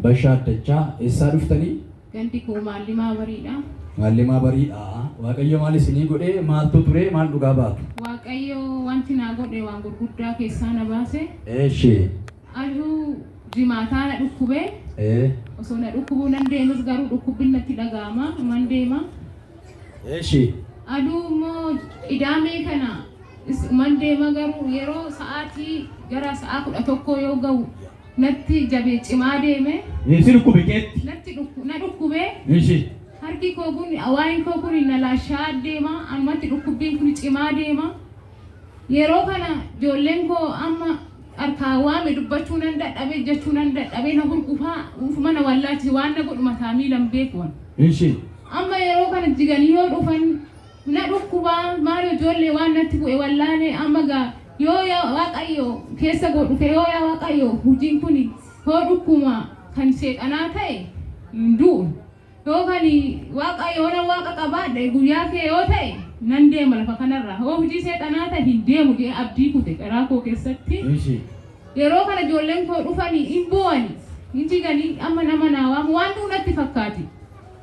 Bashaa Addachaa eessaa dhuftanii? Gandi koo Maallimaa Bariidha. Maallimaa Bariidha. Waaqayyo maal isinii godhee maaltu turee maal dhugaa baatu? Waaqayyo wanti naa godhe waan gurguddaa keessaa na baase. Eeshi. Arduu Jimaataa na dhukkube. Osoo na dhukkubuu nan deemes garuu dhukkubbin natti dhaga'ama. Iman deema. Aduu immoo Qidaamee kana iman deema garuu yeroo sa'aatii gara sa'aa 11 yoo ga'u natti jabee cimaa deeme. Si dhukkube keetti? Natti dhukku na dhukkube. Harki koo kun waa'een koo kun na laashaa'aa deema. Ammatti dhukkubbiin kun cimaa deema. Yeroo kana ijoolleen koo amma Harkaa waame dubbachuu nan dadhabe jechuu nan dadhabe na hurgufaa uufuma na wallaalchise waan na godhu mataa miilan beeku an. Ishii. Amma yeroo kana jiganii yoo dhufan na dhukkubaa maal ijoollee waan natti bu'e wallaalee amma gaa yoo yaa waaqayyo keessa koo dhufe yoo yaa waaqayyo hojiin kuni yoo dhukkuma kan seexanaa ta'e hin du'u. Yoo kan Waaqa yoona Waaqa qabaadhe guyyaa kee yoo ta'e nan deema lafa kanarraa yoo hujii seexanaa ta'e hin deemu je'ee abdii kute garaa koo keessatti Ishii. yeroo kana ijoolleen koo dhufanii hin boo'ani hin jigani amma nama naa waamu waan du'u natti fakkaati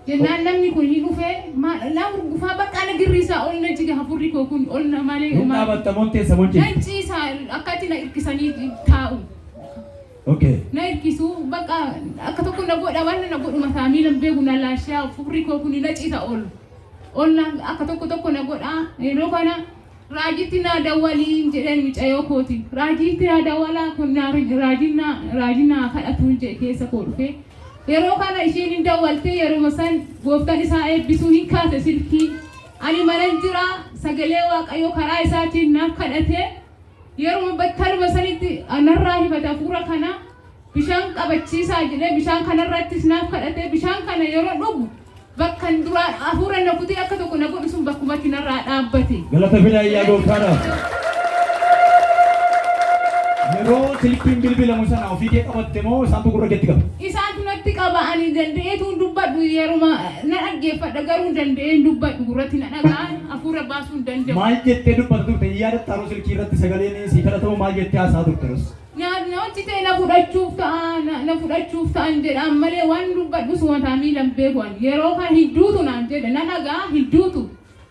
jennaan namni kun ni dhufe maal na hurgufaa baqqaa na girriisaa ol na jiga hafurri koo kun ol na malee Hin homaa dhaabatta motteessa mochii. nan ciisa akkatti na irkisanii taa'u. Okay. na irkisu baqa akka tokko na godha waan na godhuma isaa miilan beeku na laashaa furri koo kuni na ciisa ol ollaan akka tokko tokko na godha yeroo kana raajitti naa dawwaliin jedheen mucayoo kooti raajiitti naa dawwalaa kun naa raajiin naa raajiin naa kadhatuun jedhe keessa koo dhufee yeroo kana isheen hin dawwaltee yeroo san gooftan isaa eebbisuu hin kaase silkii ani manan jira sagalee waaqayyoo karaa isaatiin naaf kadhatee Yeruma battaluma sanitti anarraa himate hafuura kana bishaan qabachiisaa jedhee bishaan kanarrattis naaf kadhatee bishaan kana yeroo dhugu bakkan duraa hafuura na kutee akka tokko na godhu sun bakkumatti narraa dhaabbate. Galata fidaa iyyaa gooftaadhaaf. Yeroo silkiin bilbilamu sana ofii kee qabatte moo isaantu gurra keetti qaba? Isaantu natti qaba ani danda'eetu dubbadhu yeruma na dhaggeeffadha garuu danda'een dubbadhu gurratti na dhaga'an. afuura baasuu hin danda'u. Maal jettee dubbata turte hin yaadattaa Rus ilkii irratti sagaleen sii kadhata moo maal jettee haasa'aa turte Rus? Na na hojjitee na fudhachuuf ta'a na na fudhachuuf ta'an jedhaan malee waan dubbadhus mataa miila hin beeku ani yeroo kana hin duutu naan jedha na dhaga'a hin duutu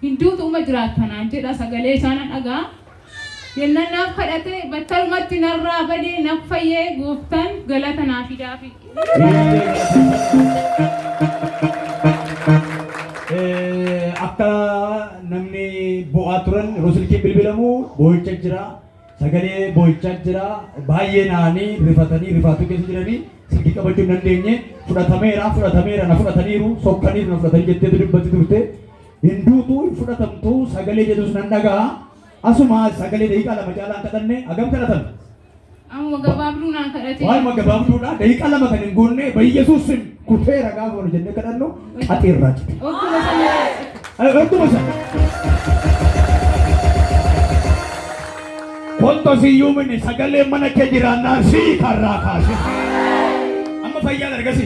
hin duutu uma jiraatta naan jedha sagalee isaa na dhaga'a Jennan naaf kadhate battalumatti narraa bade naf fayye gooftan galata naa fidaafi. Akka namni boo'aa turan yeroo silkiin bilbilamu boo'icha jira. Sagalee boo'ichaa jira. Baay'ee naanii rifatanii rifaatuu keessa jiranii silkii qabachuu hin dandeenye. Fudhatameera fudhatameera na fudhataniiru sokkaniiru na fudhatanii jetteetu dubbatti turte. Hin duutu, hin fudhatamtu sagalee jedhus nan dhaga'a. Asuma sagalee daqiiqaa lama caalaa hin kadhanne hagam kadhatan? Amuma gabaabduu naan kadhatee. Waanuma gabaabduudha daqiiqaa lama kan hin guunne bayyesuus sim kufeera gaafa wal jennee kadhannu qaxii irraa cite. Okkuma sana. Ay, Okkuma sana. Wanta siyyuu minni sagalee mana kee jiraannaan sii karraa kaase. Amma fayyaa dargasi.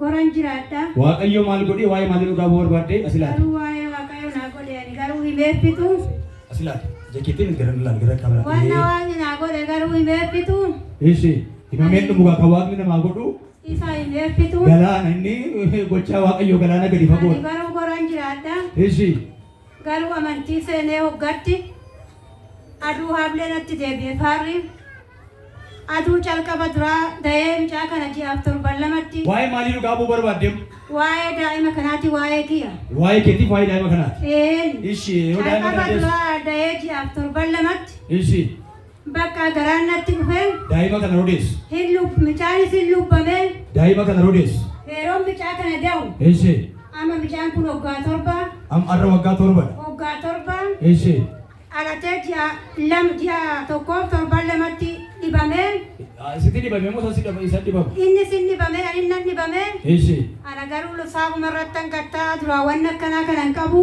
Goran jiraadha. Waaqayyo maal godhee waa'ee maalii dhugaa ba'uu barbaadde asi laata? Garuu waa'ee Waaqayyo naa godhe ani garuu himeeffitu. Asi laata? Ija keetiin gara laal gara qabaa. Wanna waaqni naa godhe garuu himeeffitu. Ishi himameen dhumu kan waaqni namaa godhu. Isa himeeffitu. Galaana inni gochaa Waaqayyo galaana gadi fagoo. Ani garuu goran jiraadha. Ishi. Garuu amantii seenee hoggatti aduu haablee natti deebi'e faarri aduu calqaba duraa dayee mucaa kana ji'aaf torban lamatti. Waa'ee maalii nu dhaabuu barbaaddeem? Waa'ee daa'ima kanaati waa'ee kiya. Waa'ee keetiif waa'ee daa'ima kanaati. Eeni. Ishii yoo daa'ima Calqaba kana deessu. duraa dayee ji'aaf torban lamatti Ishii. Bakka garaan natti dhufeen. Daa'ima kana rodeessu. Hin lub micaanis hin lubbameen. Daa'ima kana rodeessu. Yeroon micaa kana da'u. Eeshe. Amma micaan kun waggaa torba. Am arra waggaa torba. Waggaa torba. Eeshe. Dhalatee ji'a lam ji'a tokkoof torban lamatti dhibamee. Sitti dhibamee moo sassi dhaba isa dhibame? Inni sin dhibamee ani nan dhibamee. Eeshe. Ana garuu saafuma irratti hangattaa duraa waan akkanaa kana hin qabu.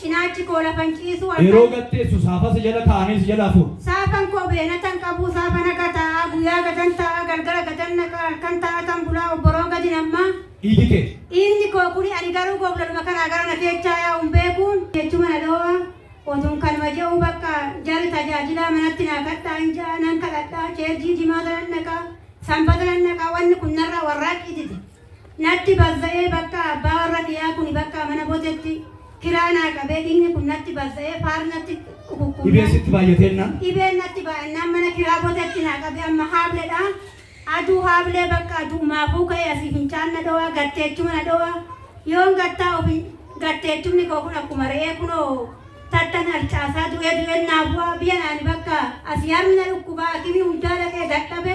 Cinaachi koo lafa hin ciisu akka. Yeroo gad teessu saafaa si jala taa'a ani si jala hafuun. Saafan koo beenata hin qabu saafa naga taa'a guyyaa gadan taa'a galgala gadan naqa halkan taa'atan bulaa obboroo gadi nammaa. Dhiigi kee. Dhiigni koo kuni ani garuu goblaluma kanaa gara na keechaa yaa'u hin beekuun. Jechuma na dhoo'a otuun kanuma je'uu bakka jarri tajaajilaa manatti naa kadhaa hin ja'a nan kadhadhaa cheerjii jimaata nan dhaqaa sanbata nan dhaqaa wanni kun narraa warraaqqiititi. Natti bazza'ee bakkaa abbaa warra kiyaa kuni bakkaa mana bojetti kiraa naa qabee dhigni kun natti bazza'ee faar natti qukukkun Dhibeen sitti baay'ateennaan. dhibeen natti baay'annaan mana kiraa bojetti naa qabee amma haabledha aduu haablee bakka aduu maafuu ka'ee asii fincaan na dhowaa gatteechuma na dhowaa yoon gattaa ofi gatteechumni koo kun akkuma re'ee kunoo tattan harcaasaa du'ee du'een naa bu'aa biya naani bakka asii harmi na dhukkubaa akimii hundaa dhaqee dadhabe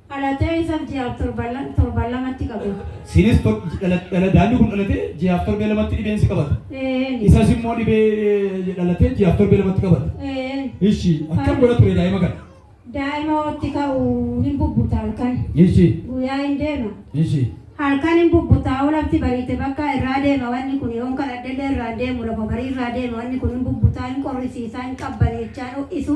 dhalatee isaf ji'aaf torban lamatti qabata. Siinis daa'imni kun dhalatee ji'aaf torbee lamatti dhibeen si qabata. Eeyyeen. Isas immoo dhibee dhalatee ji'aaf torbee lamatti qabata. Eeyyeen. Ishi akkam godha ture daa'ima kana? Daa'ima watti ka'u hin bubbuta halkan. Ishi. Guyyaa hin deema. Ishi. Halkan hin bubbuta olafti bariite bakka irraa deema wanni kun yoon kadhadhellee irraa deemu lafa barii irraa deema wanni kun hin bubbuta hin qorrisiisa hin qabbaneechaa dho'isu.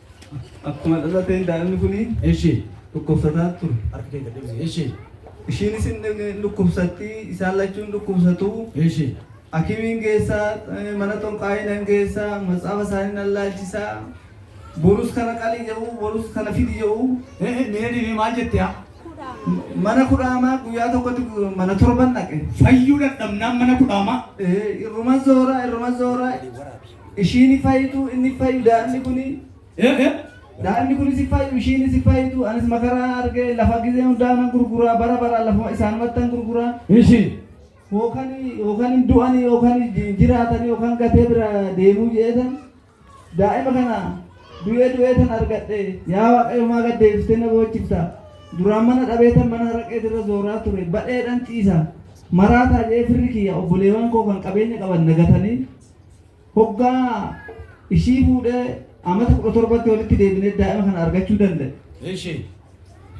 Akkuma dhalateen daa'imni kuni. Eshi. dhukkubsataa ture. Harka kee gad deebisi. Eshi. Ishiinis hin dhukkubsatti, isaan lachuu hin dhukkubsatu. Eshi. Hakimiin geessa, mana xonqaayii nan geessa, matsaafa isaanii nan laalchisa. Borus kana qali jedhu, borus kana fidi jedhu. Ee mee deemee maal jette yaa? Mana kudhaamaa guyyaa tokkotti mana torban dhaqe. Fayyuu dadhabnaan mana kudhaamaa. Ee irruma zoora, irruma zoora. Ishiini fayitu inni fayu daa'imni kuni. Daa'imni kunis hin fayu ishiinis hin fayitu anis makaraa argee lafa gizee hundaa nan gurguraa bara bara lafuma isaanumattan gurguraa. Ishi. Yookan yookan hin du'ani yookan hin jiraatani yookan gatee bira deemuu jeetan daa'ima kana du'ee du'ee tan argadhe yaa waaqayyo maa gad deebistee na boochifta duraan mana dhabee tan mana haraqee irra zooraa ture badheedhan ciisa maraataa jee firri kiyya obboleewwan koo kan qabeenya qaban nagatanii Hoggaa ishii fuudhee amata 17tti walitti deebinee daa'ima kana argachuu danda'e. Eshi.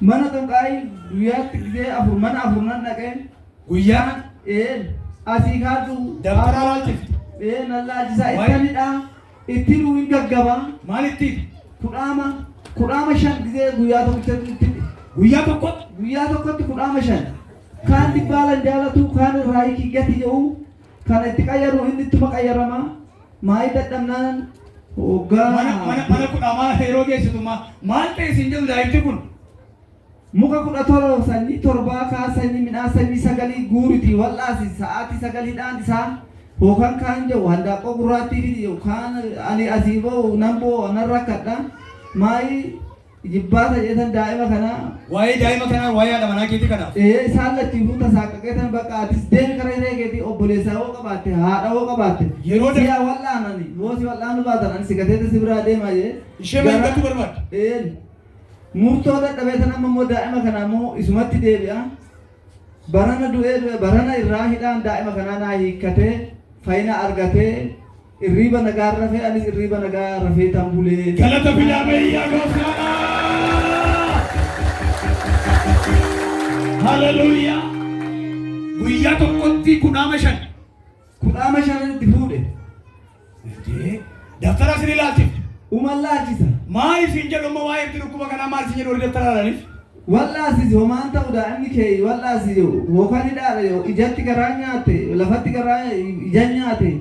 Mana xunqaa'ii guyyaatti gisee afur mana afur nan dhaqee. Guyyaa. Ee asii kaadhu. Dabtaraa laalchifte. Ee nan laalchisaa Wayi. itti anidhaa itti nuu hin gaggabaa Maal itti? kudhaama kudhaama shan gisee guyyaa tokkotti itti Guyyaa tokkotti. guyyaa tokkotti kudhaama shan kaan dhibbaa lan jaalatuu kaan irraa hiikii gati jedhu Kana itti qayyaruu inni ittuma qayyarama. Maayii dadhabnaan hoggaa. Mana mana mana kudha maasa yeroo geessitu ma- maal ta'e isin jedhu daa'imti kun. Muka kudha torba sanyii torbaa kaa sanyii midhaan sanyii sagalii guuriti wal'aasi sa'aatii sagaliidhaan isaan hookan kaan jedhu handaaqqoo gurraattii fi kaan ani asii ba'u nan bo'u nan rakkadha maayii Ijibbaata jeetan daa'ima kanaa. Waa'ee daa'ima kanaa waa'ee haadha manaa keetii kana. Ee isaan lachuutuu tasaaqqaqeetan bakka atis deemi kara hiree keetii obboleessaa hoo qabaatte haadha hoo qabaatte. Yeroo da- Siyaa wal'aanani yoo si wal'aanu baatan ani si gateete si biraa deema jee. Ishee maal Gara- gochuu barbaadda? Ee murtoo dadhabeetan amma immoo daa'ima kanaa immoo isumatti deebi'a. Barana du'ee du'e barana irraa hidhaan daa'ima kanaa naa hiikkatee fayyina argatee Irriiba nagaan rafee anis irriiba nagaa rafeetan bulee. Galata fidaa mee yaa gooftaadha. Haleluuyaa. Guyyaa tokkotti kudhaama shan. Kudhaama shan itti fuudhe. Eeyyee. Daftara isin ilaalchifte. Uma laachisa. Maa isin jedhu amma waa'ee itti dhukkuba kanaa maa isin jedhu warri daftara ilaalaniif. Wal'aasisi homaan ta'u daa'imni kee wal'aasisi hookan hidhaadha yoo ijatti garaa nyaatte lafatti garaa ija nyaatte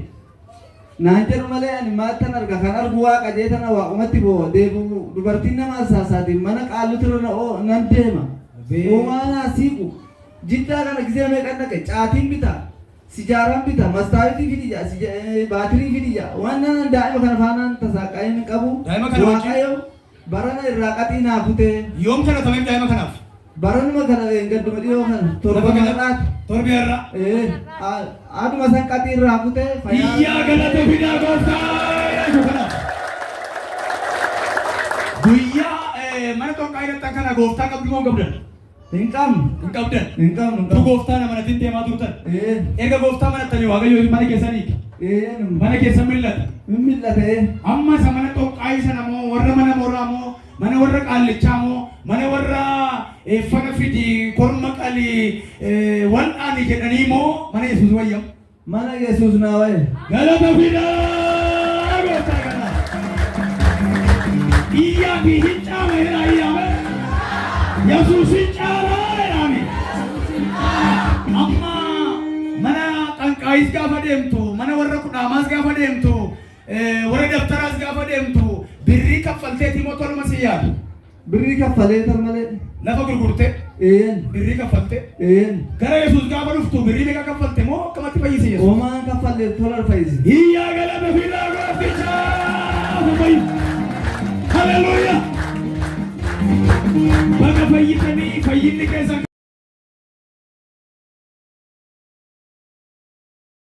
Naan jedhu malee ani maaltan arga kan argu waaqa jeetana waaqumatti boo'a deebu dubartiin nama arsaasaatiin mana qaallutirra na oo- nan deema Abee. uumaa naa siiqu jiddaa kana gisee meeqan dhaqe caatiin bita sijaaraan bita mastaawitii fidi jaa sija- eh, baatirii fidi jaa waan naan daa'ima kana faanaan tasaaqqaa'ee hin qabu Daa'ima kana wajjin- waaqayyo Barana irraa qaxii naa kutee. Yoom kana tameef daa'ima kanaaf? Baranuma kana dheengadduma dhiyoo kana torban har'aati. Torbi har'a. Ee aduma san qaxii irraa kutee fayyaa. Iyyaa galata fidaa gooftaa. Guyyaa mana xonqaa hidhattan kana gooftaa qabdu moo qabdan? Hin qabnu. Hin qabdan. Hin qabnu. Hin Du qabnu. gooftaa na manatin deemaa turtan. Ee. Erga gooftaa manattanii waaqayyoo mana keessan hiika. Ee. nu- Mana keessan mil'ata. Hin mil'ata ee. Amma isa mana xonqaayii sana moo warra mana mooraa moo mana warra qaallichaa moo mana warra eh, fana fidi korma qalii eh, wal'aani jedhanii moo mana Yesuus wayyamu. Mana Yesuus naa waye. Galata fidaa gooftaa kana. Iyyaa fi hin caama jedha iyyaame. Yesuus hin caama jedhaame. Amma mana xanqaayis gaafa deemtu, mana warra kudhaamaas gaafa deemtu, eh, warra dabtaraas gaafa deemtu, birrii kaffalteetii moo toluma si yaadu? Birrii kaffaleetan malee. Lafa gurgurte. Eeyyen. Birrii kaffalte. Eeyyen. Gara Yesuus gaafa dhuftu birrii meeqa kaffalte moo akkamatti fayyise Yesuus? Homaa kaffalle tola fayyise. Hiyyaa galata fidaa gooftichaaf fayyise. Haleluuyaa! Baga fayyitanii fayyinni keessan